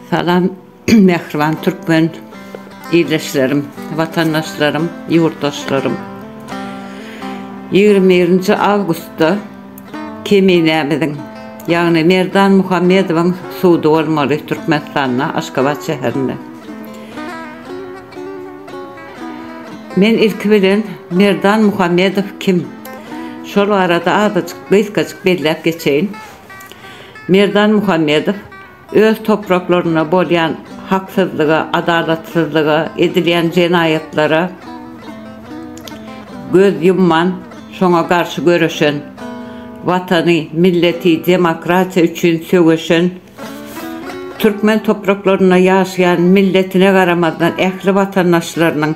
Salam mähriban türkmen ildeşlerim, watandaşlarym, ýurtdaşlarym. 21-nji awgustda Keminämiziň, ýagny Merdan Muhammedowyň sudy bolmaly Türkmenistanda, Aşgabat şäherinde. Men ilki bilen Merdan Muhammedow kim? Şol barada azajyk, gysgajyk belläp geçeýin. Merdan Muhammedow öz topraklarynda bolýan haksyzlyga, adalatsyzlyga, edilýän jenaýatlara göz ýumman, şoňa garşy göreşen, Watany, milleti, demokratiýa üçin söweşen, Türkmen topraklarynda ýaşaýan milletine garamazdan ähli watandaşlarynyň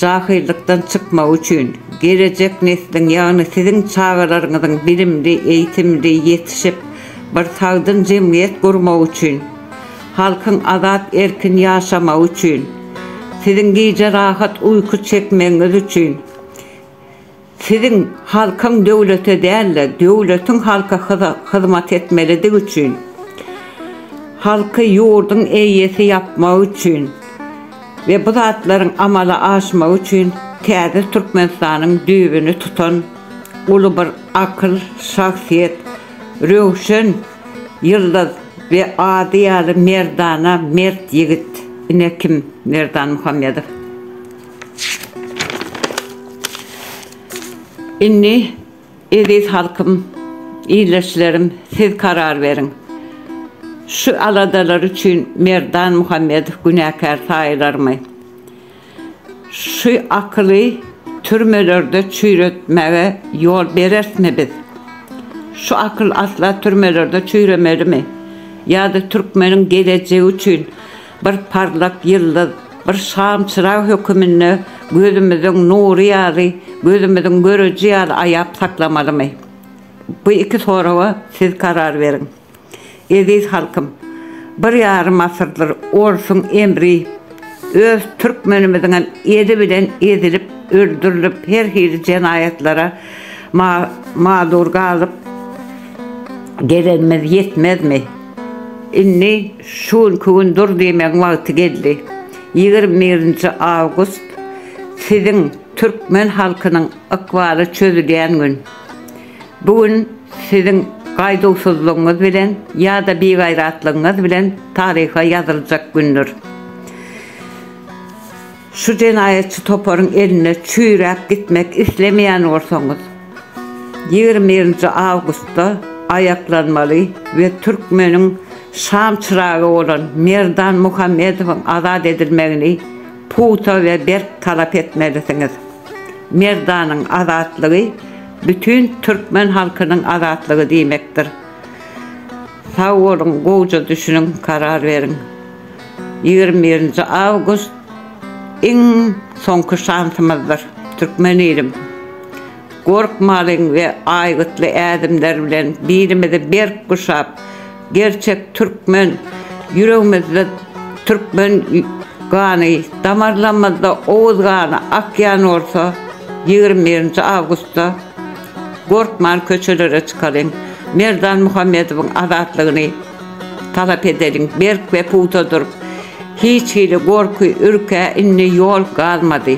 jahyllykdan çykmagy üçin, gelejek nesliň, ýagny siziň çagalaryňyzyň bilimli, eýtimli ýetişip, bir sagdyn jemgyýet gurmagy üçin, halkyň azat erkin ýaşamagy üçin, siziň gije rahat uýky çekmegiňiz üçin, Siziň halkyň döwlete däl-de, döwletiň halka hyzmat etmelidigi üçin, halky ýurduň eýesi ýapmagy üçin we bu zatlaryň amala aşmagy üçin täze Türkmenistanyň düýbüni tutan uly bir akyl, şahsyýet, Röwşen ýyldyz we ady ýaly merdana mert ýigit ine kim Merdan Muhammedow. Indi eziz halkym, ildeşlerim siz karar beriň. Şu aladalar üçin Merdan Muhammedow günäkär saýylarmy? Şu akyly türmelerde çüýretmäge ýol berersmi biz? Şu akyl asla türmelerde çüýremelimi? Ýa-da türkmeniň gelejegi üçin Bir parlak ýyldyz, bir şam çyrag höküminde gözümiziň nury ýaly, gözümiziň göreji ýaly aýap saklamalymy? Bu iki soraga siz karar beriň. Eziz halkym, bir ýarym asyrdyr orsuň emri, öz türkmenimiziňem eli bilen ezilip, öldürilip, her hili jenaýatlara ma-mazur galyp gelenimiz ýetmezmi? Indi şu günki gün dur diýmegiň wagty geldi. Ýigrimi birinji awgust siziň türkmen halkynyň ykbaly çözülýän gün. Bu gün siziň gaýduwsyzlygyňyz bilen ýa-da bigaýratlygyňyz bilen taryha ýazyljak gündür. Şu jenaýatçy toparyň eline çüýräp gitmek islemeýän bolsaňyz, ýigrimi birinji awgustda aýaklanmaly we türkmeniň şam çyragy bolan Merdan Muhammedowyň azat edilmegini pugta we berk talap etmelisiňiz. Merdanyň azatlygy bütin türkmen halkynyň azatlygy diýmekdir. Sag boluň, gowja düşüniň, karar beriň. Ýigrimi birinji awgust iň soňky şansymyzdyr, türkmen ilim! Gorkmalyň we aýgytly ädimler bilen bilimizi berk guşap, gerçek türkmen, ýüregimizde türkmen gany, damarlarymyzda oguz gany akýan bolsa, ýigrimi birinji awgustda gorkman köçelere çykalyň, Merdan Muhammedowyň azatlygyny, Talap edeliň, berk we pugta durup, hiç hili gorky, ürkä indi ýol galmady.